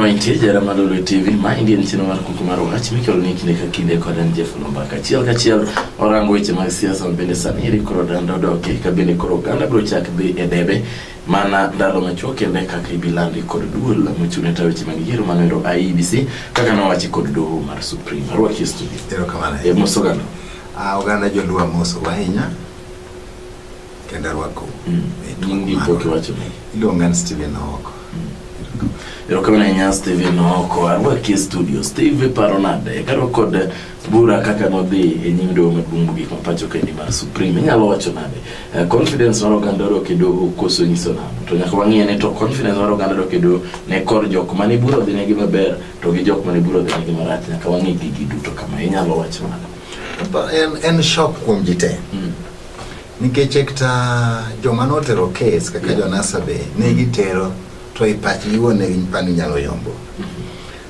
Mantie jara malolo e TV ma indie ni chino mar kuku mar wach mikelo ni kinde ka kinde kod an Jeff Lomba kachiel kachiel orango weche mag siasa ma bende sani iri koro dando doke ka bende koro oganda biro chak dhi e debe mana ndalo machuok kendo e kaka ibilandi kod duol mochung'ne ta weche mag yiero manoero IEBC kaka nowachi kod doho mar Supreme. Arwaki e studio. Erokamano. E mos oganda. Ah, oganda joluo amoso ahinya kendo arwako. Mm. E tung' Iluonga ni Stephen Owoko. Mm. Erokamano ahinya Stephen Owoko. Arwaki e studio. Steve paro nade? Karo kod bura kaka nodhi e nyim doho maduong' mogik ma pacho kendi mar Supreme, inyalo wacho nade? Eh, confidence mar oganda odok e doho koso nyiso nano? To nyaka wang'e ni to confidence mar oganda odok e doho ne kor jok mane bura odhi negi maber to gi jok mane bura odhi negi marach, nyaka wang'e gigi duto kama, inyalo wacho nade? Ba- en, en shock kuom ji te Mm. nikech ekta joma notero kes kaka Yeah. jonasa be ne gitero to i pachgi wuon ne gipani nyalo yombo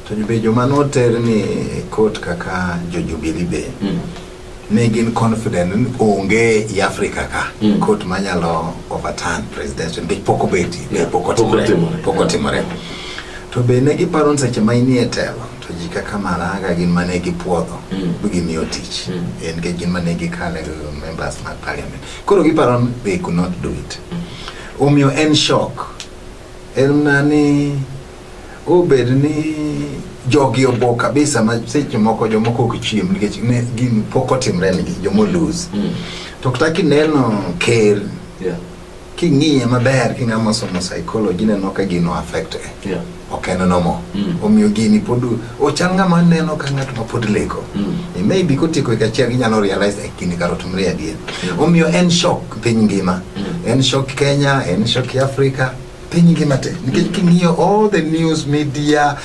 To be joma noter ni e kot kaka jo Jubilee be mm. ne gin confident ni onge i Africa ka mm. kot manyalo overturn president nikech pok obeti yeah. pok otimore pok otimore to be ne giparo ni seche ma inie telo to ji kaka Maraga gin ma ne gipuodho mm. mi gimiyo tich mm. e, nikech gin ma ne gikale members mag parliament koro giparo ni they could not do it mm. omiyo en shock en na ni Obed ni jogi obo kabisa ma seche moko jomoko ok chiem nikech ne gin pok otimre nigi jomo lose. Mm. To kata kineno ker Yeah. king'iye maber king'ama osomo psychology ineno ka gino affect e. Yeah. ok en nomo Mm. omiyo gini pod ochal ng'ama neno ka ng'at ma pod leko Mm. e maybe kotieko hik achiel ginyalo realize e gini kar otimre adier Mm. omiyo en shock piny ngima Mm. en shock kenya en shock africa piny ngima te nikech king'iyo all the news media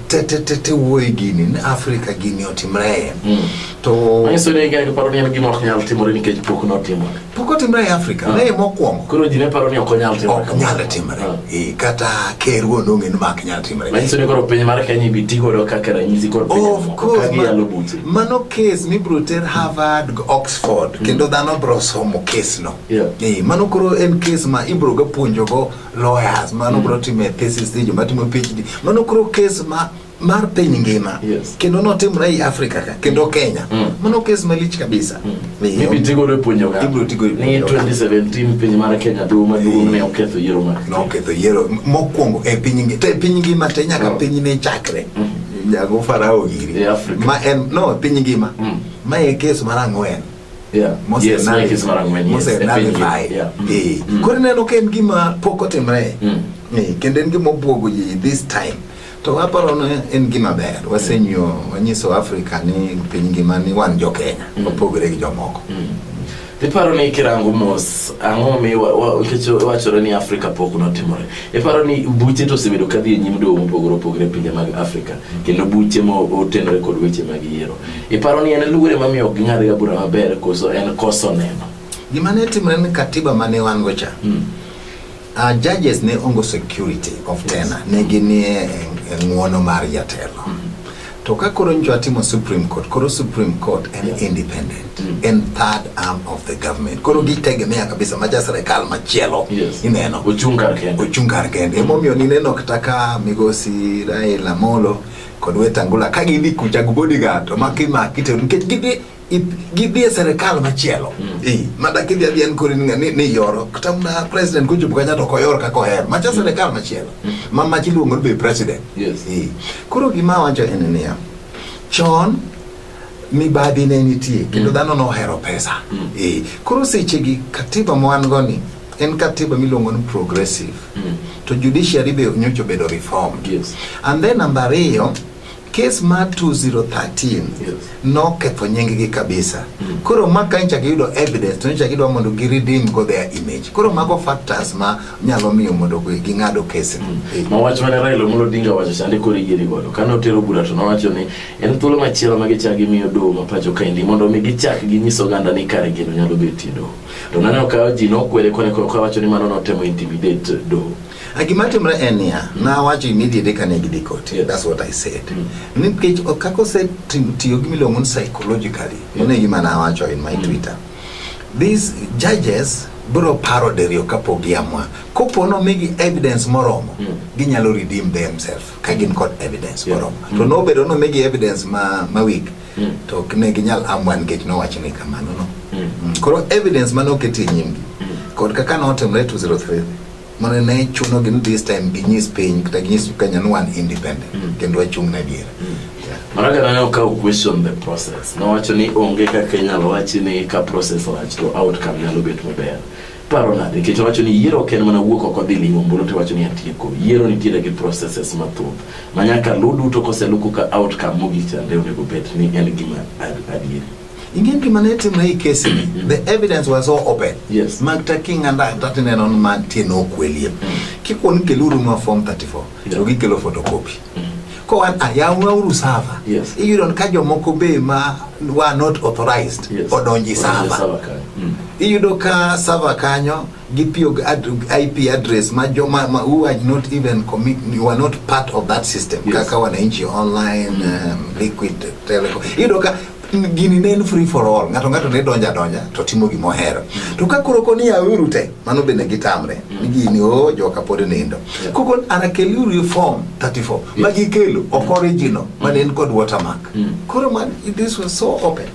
te te te te wuoyi gini ni africa gini otimre mm. to manyiso ni gari paro ni en gima ok nyal timore nikech pok notimore pok otimre e africa ah. ne mokwongo koro ji ne paro ni ok onyal timore ok nyal timore ah. e, kata ker wuon onge ni mak nyal timore manyiso ni koro piny mar kenya ibi ti godo kaka ranyisi kod piny of course mano case mibro ter harvard oxford mm. kendo dhano bro somo case no Yeah. Eh, mano koro en case ma ibro ga puonjo go lawyers mano mm. bro time thesis di joma timo PhD mano koro case ma mar piny ngima yes. kendo notimre ei Africa ka kendo Kenya mm. mano case malich kabisa mm. ibro tigo re puonjo ga ibro tigo ni 2017 piny mar Kenya duo maduong ne oketho yiero mar no oketho yiero mokwongo e piny ngima te piny ngima te nyaka oh. piny ne chakre mm. jago farao giri e ma en no piny ngima mm. ma e case mar ang'wen Yeah. Mose Yes, Nave. Mike is mara ng'wen, yes, Mose e piny Nave ngima. Vai. Yeah. Mm. Eh, Mm. koro ineno ka en gima pok otimre Mm. Eh, kendo en gima obwogo ji this time to aparo ni en gima ber wasenyo wanyiso africa ni piny ngima ni wan jo kenya Mm. opogore gi jomoko iparo ni kirango mos ang'o mi wa- wa- nikech wachore ni afrika pok notimore iparo ni buche to osebedo kadhi e nyim dowo mopogore opogore e pinje mag afrika kendo buche motenore kod weche mag yiero Iparo ni en luor ema miyo ok ging'adga bura maber koso en koso neno? Gima ne timre ni katiba mane wan go cha. Mm. Uh, judges ne ongo security of yes. tena ne ginie ng'uono mar jatelo. Mm. To ka koro njo atimo Supreme Court, koro Supreme Court en yeah. independent, mm. en third arm of the government. Koro gitegemea kabisa maja serikal machielo yes. ineno. Ochung kar kende. Ochung kar kende. Mm. Emomiyo nineno kata ka migosi Raila Amolo mm. kod Wetangula ka gidhi kucha gi bodyguard to maki maki to nikech gidhi gidhi e serikal machielo mm. eh mada kidhi adhi en kori ni ni yoro kata na president kucho bukanya to koyor ka koher macha mm. serikal machielo mm. ma machi luongo be president yes eh koro gima wacho en niya chon mibadhi ne nitie kendo mm. dhano nohero pesa mm. e. koro sechegi katiba mwan go ni en katiba miluongo ni progressive mm. to judiciary be nyocha obedo reformed yes. and then namba ariyo kes ma 2013 yes. noketho nyinggi kabisa mm. koro ma ka nchak yudo evidence to nchak idwa mondo gi redeem go their image koro mago factors ma nyalo miyo mondo ging'ado kes mm. ma wach mane Raila Amolo Odinga wacho sande koro yieri godo kane otero bura to nowacho ni En thuolo machielo ma gichak gimiyo doho ma pacho kaendi mondo mi gichak ginyis oganda ni kare gino nyalo betie doho. To naneno ka ji nokwere kone koro kawacho ni mano notemo intimidate doho. A gima timre en niya, nawacho immediately kane gidhi koti. Yes. That's what I said. Nikech o- kaka osetiyo gi miluongo ni psychologically, mano e gima nawacho in my Twitter. These judges biro paro diriyo kapok giamua. Kopo nomigi evidence moromo, ginyalo redeem themselves. ka gin kod evidence Yeah. moromo to nobedo nomigi evidence ma, ma weak Mm. to ok ne ginyal amwa nikech nowacho ni kamano no Mm. Mm, koro evidence mane oket e nyimgi Mm. kod kaka notimre 203 mane ne chunogi ni this time ginyis piny kata ginyis kenya ni wan independent Mm. kendo wachung' na adiera Yeah. Maraga nane okawo question the process. Nowacho ni onge kaka inyalo wachi ni ka process lach to outcome nyalo bet maber. Paro nade? Nikech owacho ni yiero ok en mana wuok oko dhi ling'o ombulu to iwacho ni atieko. Yiero nitiere gi processes mathoth ma nyaka luw duto koseluku ka outcome mogik chande onego bed ni en gima adieri. Ingen gima ne timre i kesi ni, mm. the evidence was so open. Yes. Mag taking and that tineno ni mantie nokwelie. Mm. Kikuon keluru ma form 34. to gikelo photocopy ko an ayawna uru sava Yes. iyudo ka jomoko be ma wa not authorized Yes. odonji Odonji sava sava kanyo. Mm. iyudo ka sava kanyo gitiyo gi ad- ip address ma joma ma who are not even commit, you are not part of that system Yes. kaka wananchi online um, liquid telecom iyudo ka gini ne en free for all ng'ato ng'ato ne donja donja to timo gima ohero to ka koro koni auru te mano bende gitamre ni gini o joka pod nindo koko anakeliuru e form 34 ma gikelo ok original mane en kod watermark koro man this was so open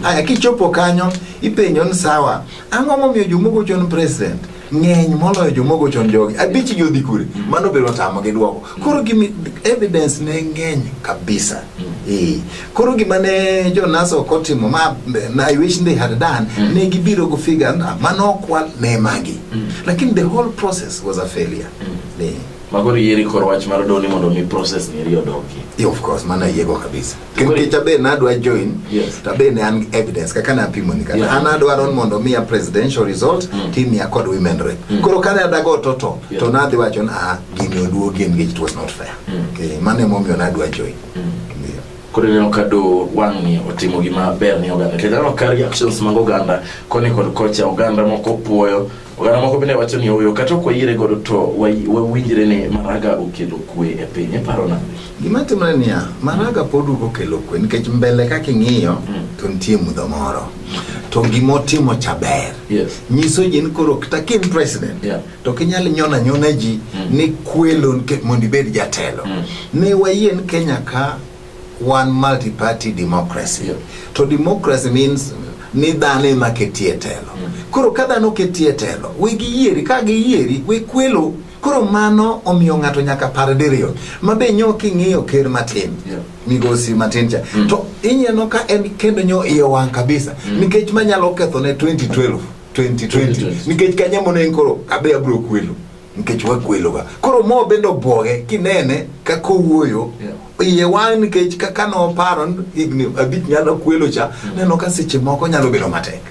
aya kichopo kanyo ipenjo ni sawa Ang'o momiyo jomogo chon president ng'eny moloyo jomogo chon jogi? Abich gi odhi kure? Mano biro tamo gi dwoko. Koro gimi evidence ne ng'eny kabisa. Eh. Koro gima ne Jonas ok otimo ma na I wish they had done mm. ne gibiro go figure na mano okwal ne magi. Mm. Lakini the whole process was a failure. Mm. Ne. Magori yeri kor wach mar doni mondo mi process ni riyo dogi. Yeah, of course, mana yego kabisa. Nikech abe nadwa join yes. to abe ne an evidence kaka napimo ni kata yeah. an adwaro mondo miya presidential result mm. team ya kod women rep mm. koro kane adago toto yeah. to nadhi wacho na ah, gini oduogi engage it was not fair mm. okay. mano emomiyo nadwa join mm. yeah. koro ineno ka do wang'ni otimo gima ber ni oganda kendo aneno ka reactions mag oganda koni kod kocha oganda moko puoyo Oganda moko bende wacho ni oyo kata ok wayiere godo to wawinjre ni Maraga okelo kwe e piny. Iparo nade? Gima timore niya, Maraga pod duogo okelo kwe nikech mbele kaka ing'iyo mm. to nitie mudho moro to gima otimo cha ber yes. nyiso ji ni koro kata ka in president yeah. to kinyal nyona nyona ji mm. ni kwelo mondo ibed jatelo mm. ne wayie ni Kenya ka Wan multi party democracy. Yeah. To democracy means ni dhano ema ketie telo. Mm. Koro ka dhano ketie telo, we giyieri, ka giyieri, we kwelo. Koro mano omiyo ng'ato nyaka par diriyo. Ma be nyo king'iyo ker matin. Yeah. Migosi matin cha. Mm. To inyeno ka en kendo nyo iye wang' kabisa. Mm. Nikech manyalo ketho ne 2012, 2020. 2020. Nikech kanyamo ne koro abe abro kwelo. nikech wagweloga koro mo bende obwoge kinene kaka owuoyo iye wang' nikech kaka noparo higni abich nyalo kwelo cha neno ka seche moko nyalo bedo matek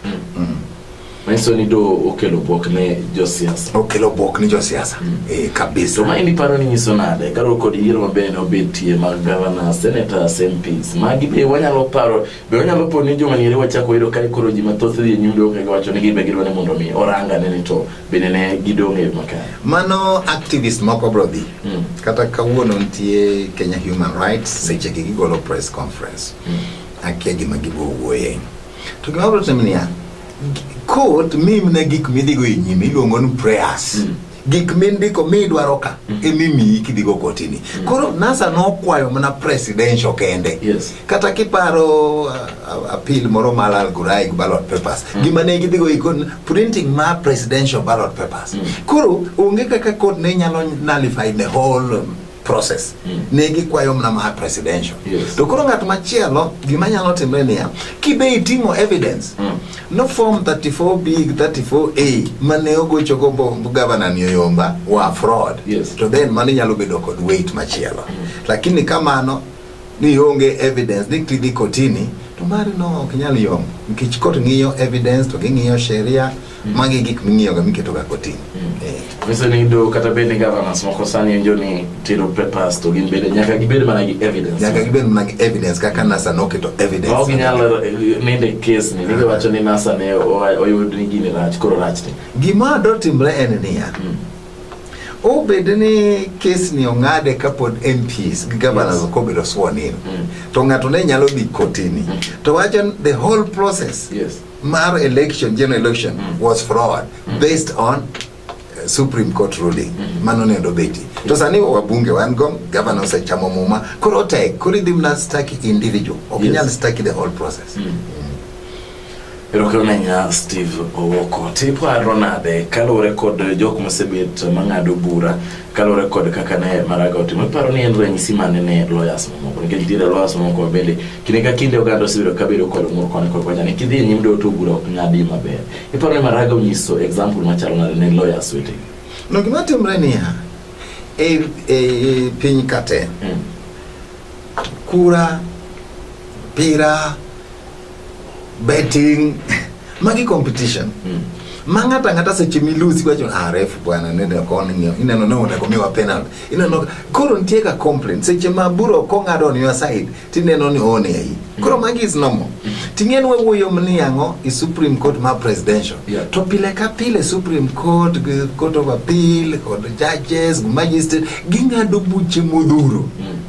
Manyiso ni do okelo bwok ne josiasa. okelo bwok ni josiasa eh, kabisa To ma in iparo ni nyiso nade kaluwore kod yiero ma bende obetie mag gavana, senators, MPs. Magi be wanyalo paro, be wanyalo po ni joma niere wachako yudo ka koro ji mathoth dhi e nyundo kagiwacho ni gin be gidwa ni mondo omi orang ane ni to bende ne gidong' e yo makare. Mano activist moko bro dhi. Mm. Kata kawuono nitie Kenya Human Rights mm. seche gi gigolo press conference. Mm. Akia gima gibo wuoye. To gima bro timo niya, court mimne gik midhigo e nyime iluongo ni prayers. Mm. gik mindiko midwaro ka mm. emimiyi kidhigo kotini mm. koro nasa nokwayo mana presidential kende yes. kata kiparo uh, uh, appeal moro mar algoraic ballot papers mm. gima ne gidhigo ikon printing ma presidential ballot papers mm. koro onge kaka court ne nyalo nullify the whole um, process mm. ne gikwayo mna ma presidential yes. to koro ng'at machielo gima nyalo timre niya kibe iting'o evidence mm. no form 34 b 34 a mane ogocho go governor ni oyomba wa fraud yes. to then mano nyalo bedo kod weight machielo mm. lakini kamano ni onge evidence ni kidhi kotini to mari no ok nyal yom nikech kot ng'iyo evidence to ging'iyo sheria mm. magi gik ming'iyoga miketoga kotini mm. eh. Vise ni do kata bende governance moko sani njo ni tiro papers to gin bende nyaka gibed mana gi evidence nyaka gibed mana gi evidence kaka NASA noketo evidence ok nyalo eh, nende case ni nige wacho ni NASA ne oyud ni gini rach koro rach ni gima do timre en niya mm. obed ni kes ni ong'ade kapod MPs gi governors yes. okobedo sworn in mm. to ng'ato ne nyalo dhi kotini mm. to wacho the whole process yes. mar election general election mm. was fraud mm. based on uh, Supreme Court ruling mm. mano ne ndobeti mm. to sani wabunge wan go governor osechamo muma koro tek koro idhi mna staki individual ok yes. nyal staki the whole process mm. Mm. Erokamano ahinya Steve Owoko. Tiparo nade kaluwore kod jok mosebet mang'ado bura kaluwore kod kaka ne Maraga otimo, iparo ni en ranyisi mane ne lawyers mamoko nikech nitiere lawyers mamoko bende kinde ka kinde oganda osebedo kabedo kod ng'ur koni kod kocha ni kidhi e nyim doho to bura ok ng'adi maber. Iparo ni Maraga onyiso example machalo nade ne lawyers wetegi? No gima timre niya, e, e piny kate Mm. kura pira betting magi competition mm. ma ng'ato ang'ata seche milusi wacho ah ref bwana ne deko oning'yo ineno ne onego miwa penalty ineno koro nitie ka complaint seche ma buro kong'ado on your side tineno ni oone ayi koro mm. magi is normal mm. ting'en wawuoyo ni ang'o i supreme court ma presidential yeah. to pile ka pile supreme court court of appeal kod judges magistrate ging'ado buche modhuro mm.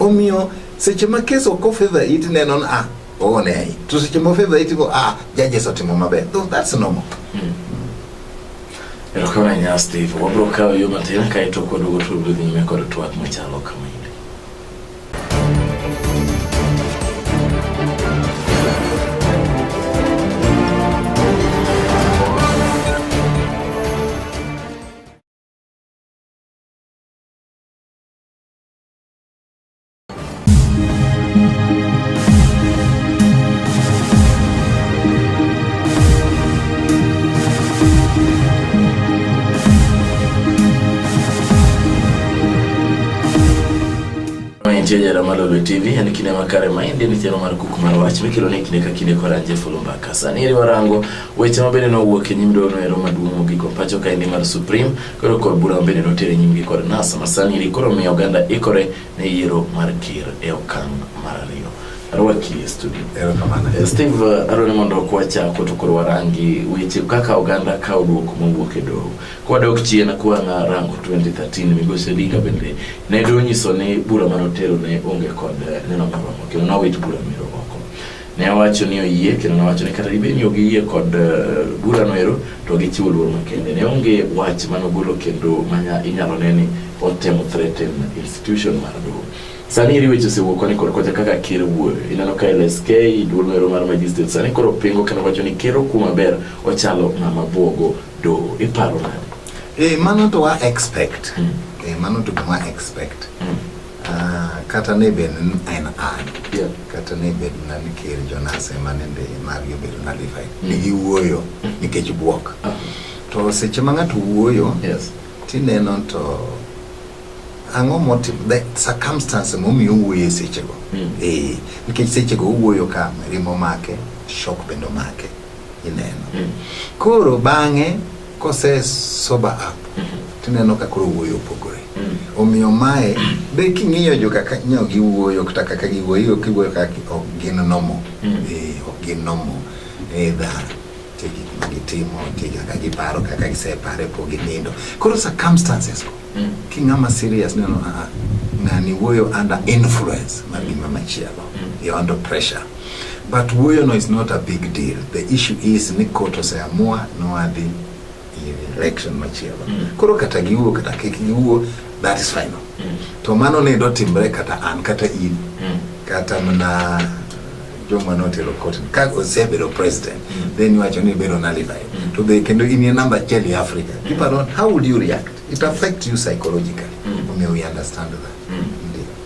Omiyo seche ma kes ok ofedha it neno ni ah oone ahi to seche ma ofedha it go ah judges otimo maber. Though that's normal. Mm. Erokamano ahinya Steve. Wabiro kawo yo matin kae to kwaduogo to wabiro dhi nyime kod twak machalo kama. Nigeria Ramalolo TV yani kine makare maindi ni thero mar kuku mar wach mikelo ni kine ka kine kora je fulumba kasa ni riwarango weche mabende no wuok e nyimdo no ero maduong' mogiko pacho ka indi mar Supreme Koro kor bura bende notere nyimgi kod NASA ma sani eri koro miyo oganda ikore ne yiero mar ker e okang' mar ariyo. Arwaki e studio. Erokamano. Eh, Steve, eh, adwaro ni mondo kwachako to koro warangi weche kaka oganda kawo dwoko mowuok e doho. Kwadok chien kwang'a rango 2013 migosi Odinga bende ne donyiso ni bura manotero ne onge kod eh, neno moromo kendo nowit bura mero oko. Ne owacho ni oyie kendo ne owacho ni kata dibed ni ok giyie kod eh, bura no ero to gichiwo luor makende. Ne onge wach mane ogolo kendo manya inyalo ne ni otemo threaten institution mar doho. Sani iri weche osewuok koni kod kocha kaka ker wuoyo. Ineno ka LSK duol no ero mar magistrate sani koro pingo kendo wacho ni ker okuo maber ochalo ng'ama buogo doho. Iparo nade? Eh, mano to wa expect. Mm. Eh, mano to gima expect. Mm. Ah, kata ne bed ni en an Yeah. kata ne bed na ni ker jonas ema nende margi obedo nalified ni giwuoyo nikech bwok to seche ma ng'ato wuoyo Yes. tineno to ang'o motim the circumstance momiyo owuoyo e sechego Mm. Eh, nikech sechego owuoyo ka rimo make shok bende omake ineno Mm. koro bang'e Kose sober up tineno ka koro wuoyo opogore. Omiyo mae be king'iyo jo kaka nyo giwuoyo kata kaka giwuoyo kiwuoyo kaka gi- ok gin nomo. Eh, ok gin nomo. Eh, dha nitie gik ma gitimo, nitie kaka giparo, kaka gisepare pok ginindo. Koro circumstances go Mm. Ki ng'ama serious neno a ah, ng'ani wuoyo under influence mar gima machielo. Mm. You're under pressure. But wuoyo no is not a big deal. The issue is ni court oseamua noadhi election machielo. Mm. Koro kata giwuo kata kik giwuo that is final. Mm. To mano ne do timre kata an kata in. Mm. Kata mana joma notelo court ka osebedo president mm. then iwacho ni bedo nullified mm. to the kendo in a number achiel e Africa mm. people don't how would you react it affects you psychologically mm. omiyo we understand that mm.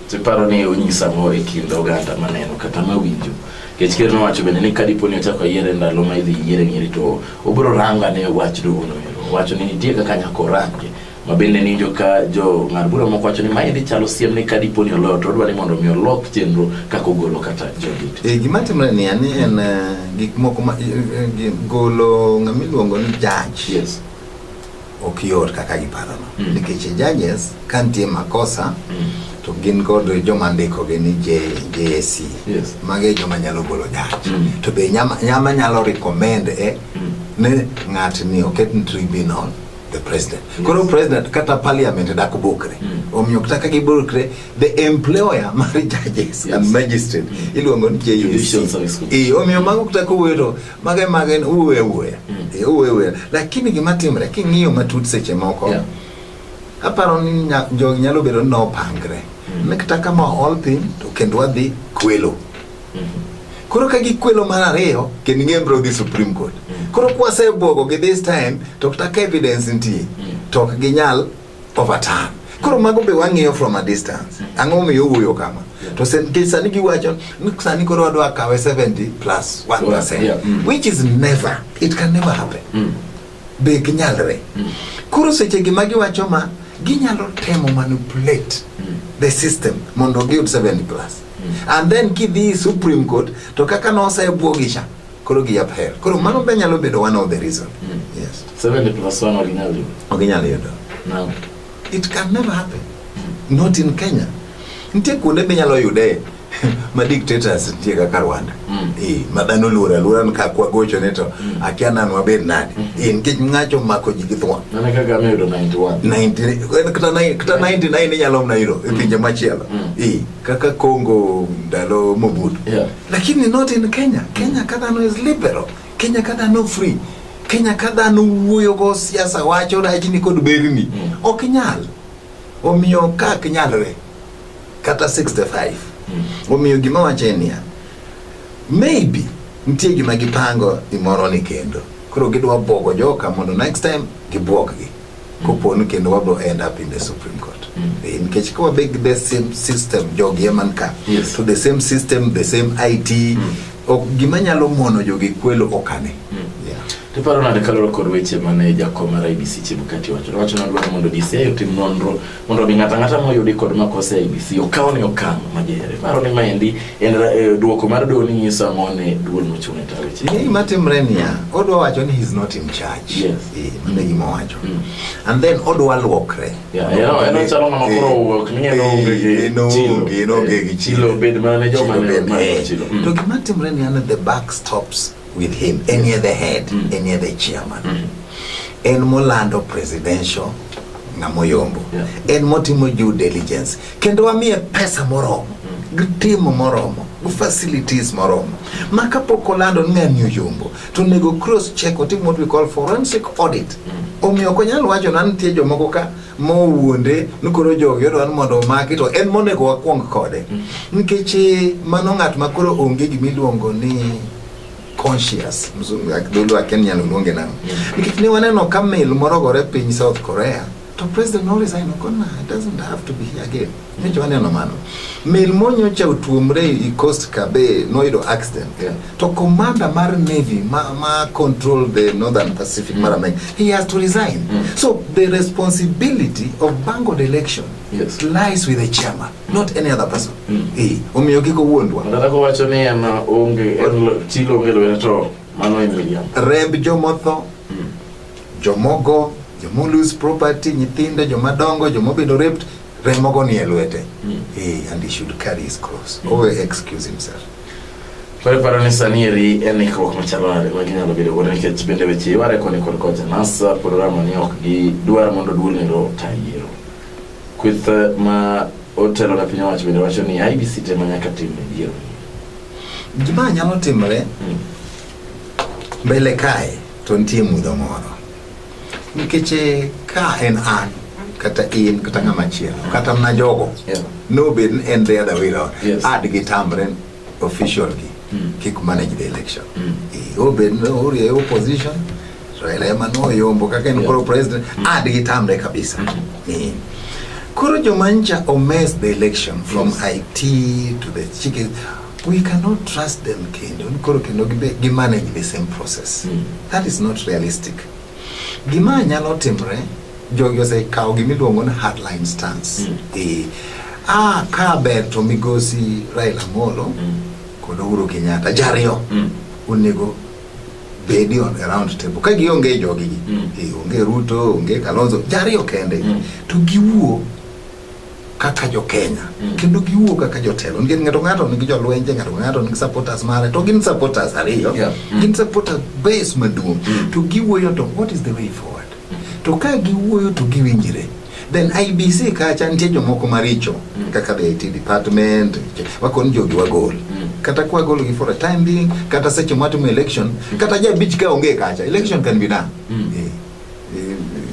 tiparo ni onyisa mo e kind oganda maneno kata mawinjo kech ker nowacho bende ni kadipo ni ochako yiere ndalo ma idhi yiere ng'eri to obiro ranga ne wach duono wacho ni nitie kaka nyako range ma bende ninjo ka jo ng'ad bura moko wacho ni maendi chalo siem ni ka dipo ni oloyo to odwa ni mondo mi olok chenro kaka ogolo kata jodit e, gima timre ni ani en eh, gik moko ma eh, eh, golo ng'ama iluongo ni judge yes ok yot kaka giparono mm. nikech judges ka nitie makosa mm. to gin kod joma ndikogi ni JAC yes. mage joma nyalo golo judge mm. to be nyama, nyama nyalo recommend e mm. ni ng'atni oket ni tribunal the president yes. Koro president kata parliament dak bukre mm. omiyo kata gi bukre the employer mar judges yes. and magistrate mm. iluongo ni JUC e eh, omiyo mago kata ko wero mage mage uwe uwe mm. e eh, uwe uwe lakini gima timre king'iyo matut seche moko yeah. aparo ni jogi nyalo bedo ni nopangre mm. ne kata kama all thing to kendo wadhi kwelo Koro ka gikwelo mar ariyo kendo ing'e bro dhi Supreme Court. Koro kwasebwogo gi this time to kata ka evidence nitie to ok ginyal overturn. Koro mago be wang'iyo from a distance. Ang'o momiyo owuoyo kama? To sen- nikech sani giwacho ni sani koro wadwa kawe 70 plus 1%. Yeah, mm. Which is never, it can never happen. be ginyalre mm. koro seche gi ma giwacho ma ginyalo temo manipulate mm. the system mondo giyud 70 plus mm. and then kidhi supreme court to kaka nosebwogi cha koro gi upher koro mano be nyalo bedo one of the reason mm. yes 70 plus 1 original original yudo no it can never happen mm. not in kenya nitie kuonde minyalo yude ma dictators nitie kaka Rwanda mm. eh ma dhano luora luora ka kwa gocho ne to mm. akia nan wabed nadi mm. eh nikech ngacho mako ji githwa nana kaka me do 91 90 kata 9 kata 99 ni nyalo mna hiro e mm. pinje machielo mm. eh kaka Congo ndalo Mobutu yeah. lakini not in Kenya Kenya kata no is liberal Kenya kata no free Kenya ka dhano wuoyo go siasa wacho rajni kod berni mm. ok nyal omiyo ka ok nyalre kata 65 mm. omiyo gima wacho en niya maybe nitie gima gipango imoro ni kendo koro gidwa bwogo joka mondo next time gibwoggi koponi kendo wabro end up in the supreme court mm. eh, nikech ka wabe gi the same system jogi eman ka yes. to the same system the same it mm. ok gima nyalo mono jogi kwelo okane mm. yeah. tiparo nade kaloro kod weche mane jakom mar ibc chebukati wacho wacho nadwaro mondo dci otim nonro mondo mi ng'ata ng'ata moyudi kod makosa e IEBC okaw ne okang' majere. Paro ni maendi en eh, duoko mar doho ni nyiso ang'o ne duol mochung' e tayo weche. Ni matimre niya, odwa wacho ni he's not in charge. Yes. Eh, mano gima owacho. Mm. And then odwa luokre. Yeah, you know, eno chalo ng'ama koro owuok ni en onge gi Eh, en onge, chilo. en onge gi Eh, chilo. chilo bed mana ne joma Chilo ne bed, mana eh. chilo. Mm. To gima timre ni an the buck stops with him any yes. other head mm. any other chairman mm. en molando presidential ng'amoyombo yeah. en motimo due diligence kendo wamiye pesa moromo mm. gitimo moromo facilities moromo ma kapok olando ni ng'ani oyombo to onego cross check otim what we call forensic audit mm. omiyo ok onyal wacho na nitie jomoko ka mowuonde ni koro jogi odwa ni mondo omaki to en monego wakwong kode nikech eh, mano ng'at ma koro onge gima iluongo ni conscious mzungu ak- dholuo akia ni nyalo luonge nang'o nikech ne waneno ka mil morogore piny south korea to president no resign okona doesn't have to be here again Nyicho waneno mano. Mel monyocha otuomre i coast kabe noyudo accident. Yeah. To commander mar navy ma, ma control the northern Pacific mm. mar America, he has to resign. Mm. So the responsibility of Bango election yes. lies with the chairman, not any other person. Mm. Eh, omiyo kiko wuondwa. Nataka kuwacho ni ana onge chilo onge lwena to mano en William. Remb jomotho, mm. jomogo, jomolose property, nyithindo, jomadongo, jomobedo raped, remogo ni e lwete mm. hey, and he should carry his cross mm. always excuse himself Preparo ni sanieri en ikruok machalo nade ma ginyalo bedo godo nikech bende weche iware koni kod kocha nasa programa ni ok gidwar mondo duol ni ro ta yiero kweth eh, ma otelo na piny owacho bende wacho ni IBC tema nyaka tim e yiero gima nyalo timore hmm. mbele kae to nitie mudho moro Nikech eh, ka en an kata in kata ng'ama chielo kata mna jogo Yeah. nobed ni en the other way round Yes. ad gi tamre official gi Mm. kik manage the election Mm. Eh, obed ni orie opposition Raila ema noyombo kaka en Yeah. koro president ad gi tamre kabisa Eh. koro jomancha omess the election from Yes. IT to the chicken we cannot trust them kendo koro kendo gi manage the same process mm. that is not realistic gima nyalo timre jogi osekawo gima iluongo ni hardline stance mm. e, ah, ka ber to migosi Raila Amolo mm. kod Uhuru Kenyatta jariyo mm. onego bedi on around table ka gionge jogi mm. e, onge Ruto onge Kalonzo jariyo kende mm. to giwuo kaka jo Kenya mm. kendo giwuo kaka jotelo nikech ng'ato ng'ato nigi jolwenje ng'ato ng'ato nigi supporters mare to gin supporters ariyo yeah. mm. gin supporters base maduong' mm. to giwuoyo to what is the way forward mm. to ka giwuoyo to giwinjire then IBC kacha nitie jomoko maricho mm. kaka the IT department wakon jogi wagol mm. kata kwa golo gi for a time being kata seche mwatimo election mm. kata jabich ka onge kacha election can be done mm. yeah.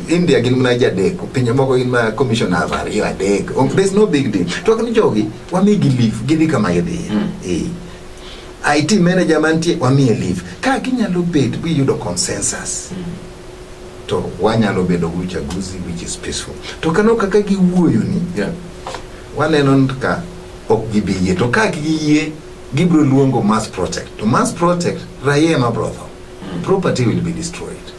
India gin mana ji adek, pinje moko gin mana commissioners ariyo adek. Ok, There's no big deal. To ni jogi wamigi leave gidhi kama gidhiye. Mm. Eh. IT manager mantie wamiye leave. Ka ginyalo bet giyudo consensus. To wanyalo bedo gi uchaguzi which is peaceful. To kano kaka giwuoyo ni Yeah. waneno ni ka ok gibi yie to ka giyie gibiro luongo mass protest to mass protest raia ema biro tho Property will be destroyed.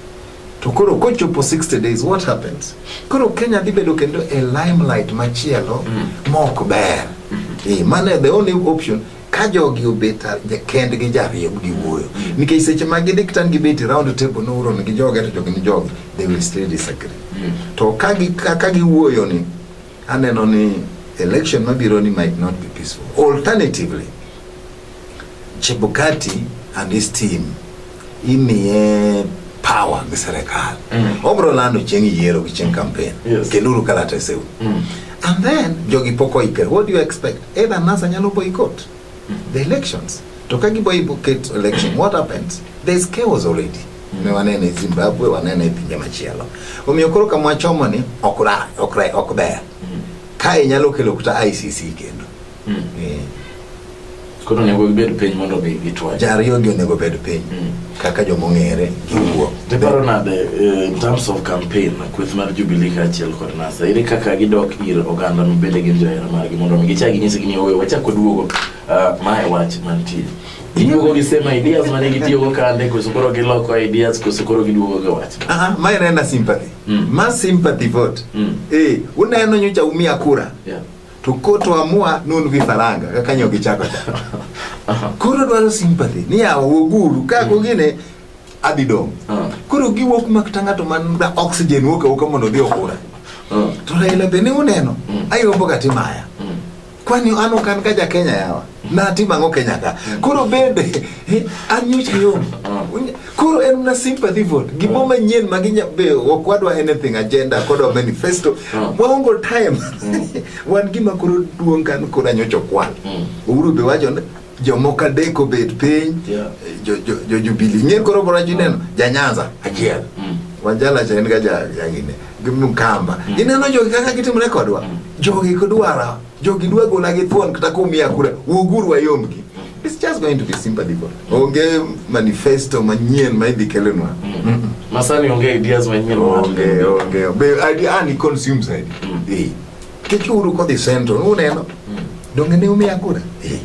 To koro kochopo 60 days what happens? Koro Kenya dhi bedo kendo a limelight machielo mm. mok ber. Mm -hmm. E, eh, mane the only option ka jogi obet kendgi jariemb gi wuoyo nikech seche ma gidhi kitan gibet e round table nouron gi joge to jogi ni jogi they will still disagree mm. to ka giwuoyo ni Aneno ni election mabiro ni might not be peaceful. Alternatively, Chebukati and his team imiye power gi serikal mm. obro lando chieng' yiero gi chieng' campaign yes. kenduru kalateseu mm. and then jogi pok oikre what do you expect either NASA nyalo boycott the elections to kagibo get election what happens there is chaos already ne wanene Zimbabwe wanene pinje machielo omiyo koro kama wachomo ni ok ra ok ra ok ber kae nyalo kelo kuta ICC kendo mm. eh. koro onego gibed piny mondo gitwa jariyo gi onego bed piny mm. kaka joma ong'ere giwuo. Diparo nade eh, in terms of campaign kweth mar Jubilee kaachiel kod NASA ere kaka gidok ir oganda ma bende gin johera margi mondo mi gichak ginyisgi ni owe wachak waduogo ah, mae wach mantie giduogo gi same ideas mane gitiyogo kande koso koro giloko ideas koso koro giduogo gi wach Aha, ma en ena sympathy Mm. ma sympathy vote Mm. eh, uneno nyocha umia kura Yeah. to koto amua nun gi faranga kaka nyo gichako cha koro dwaro sympathy ni yawa woguru ka go gine adhi dong Ah. koro giwuok mak ta ng'ato man da oxygen wuok awuoka mondo odhi okura Ah. to Raila be ne uneno ayombo ga timaya Mm. kwani an ok an ka ja Kenya yawa Natim ang'o Kenya ka? Koro bende eh, an nyocha yo. Koro en na sympathy vote. Gimo manyien ma ginya be ok wadwa anything agenda kod our manifesto. Waongo time. Wan gima koro duong' kan koro nyocha kwan. Uhuru be wacho ni jomoko adek obet piny Yeah. jo jo jo Jubilee. Ng'e koro bora jineno ja Nyanza achiel. Wanjala cha en ga ja jangine. Gimkamba. Ineno jogi kaka gitimre kodwa. Jogi kodwara Jogi dwa gola gi thuon kata kumiya kura, wuoguru wayomgi. It's just going to be sympathy vote. Onge manifesto manyien ma idhi kelonwa. Mm. Masani onge ideas manyien. Onge, onge. Be idea ani consumes ID. Mm. Eh. Kichuru kodhi central, uneno? Mm. Donge ne umiya kura? Eh.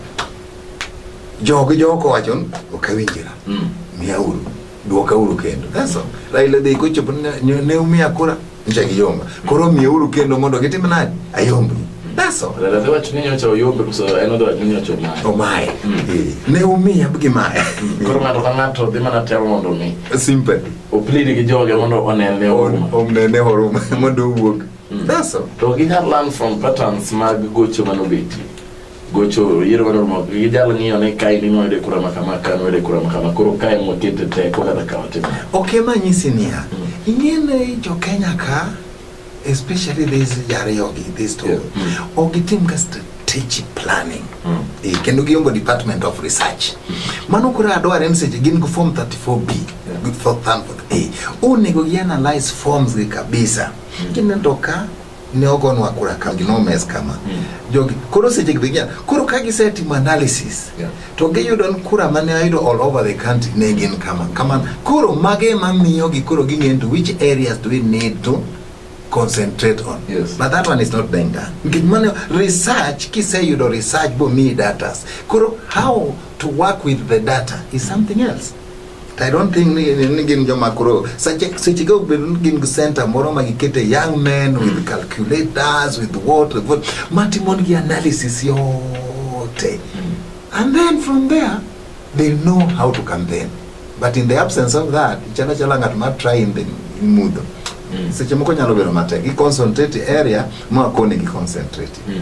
Jogi joko wachon, okawinjira. Mm. Miya uru. Duoka uru kendo. That's all. Raila dhi kochopo ne umiya kura. Mm. nje kiyomba koro miuru kendo mondo gitim nani ayombi That's all. Dada dhewa chuninyo cha uyombe kuso eno dhewa chuninyo cha umaye. Umaye. Mm. Eh, ne umiya bgi maye. Mm. Koro ng'ato ka ng'ato dhi mana temo mondo mi. Sympathy. Oplidi gi joge mondo onene huruma. Onene huruma mondo owuog. Mm. That's all. To ginyal learn from patterns mag gocho manobetie. gocho yiero mar Oromo gi jalo ng'iyo ni kae ni noyude kura ma kama kae noyude kura ma kama koro kae mokete teko kata kawo timo ok ema nyisi niya ing'ene jo kenya ka especially these jariyogi these two Yeah. Mm. ok gitim ka strategic planning Mm. Eh, kendo giongo department of research mano koro adware ni seche gin gi form 34b Yeah. gi form 34a onego gi analyze forms gi kabisa kineno ka ne ogonwa kura kambi nomes kama mm. jogi koro seche gi gin koro ka gisetimo analysis yeah. to giyudo ni kura mane ayudo all over the country ne gin kama kama koro mage ma miyo gi koro ging'eyo to which areas do we need to concentrate on yes. but that one is not being done nikech mano research kiseyudo research bomiyi datas koro how to work with the data is something else I don't think ni, ni, ni gin joma koro seche seche ka obedo ni gin gi center moro ma gikete young men with calculators with what with what matimo nigi analysis yote and then from there they know how to campaign but in the absence of that chala chala ng'at ma try in the in mudho Mm. seche moko nyalo bedo matek i concentrate area ma kone gi concentrate Mm.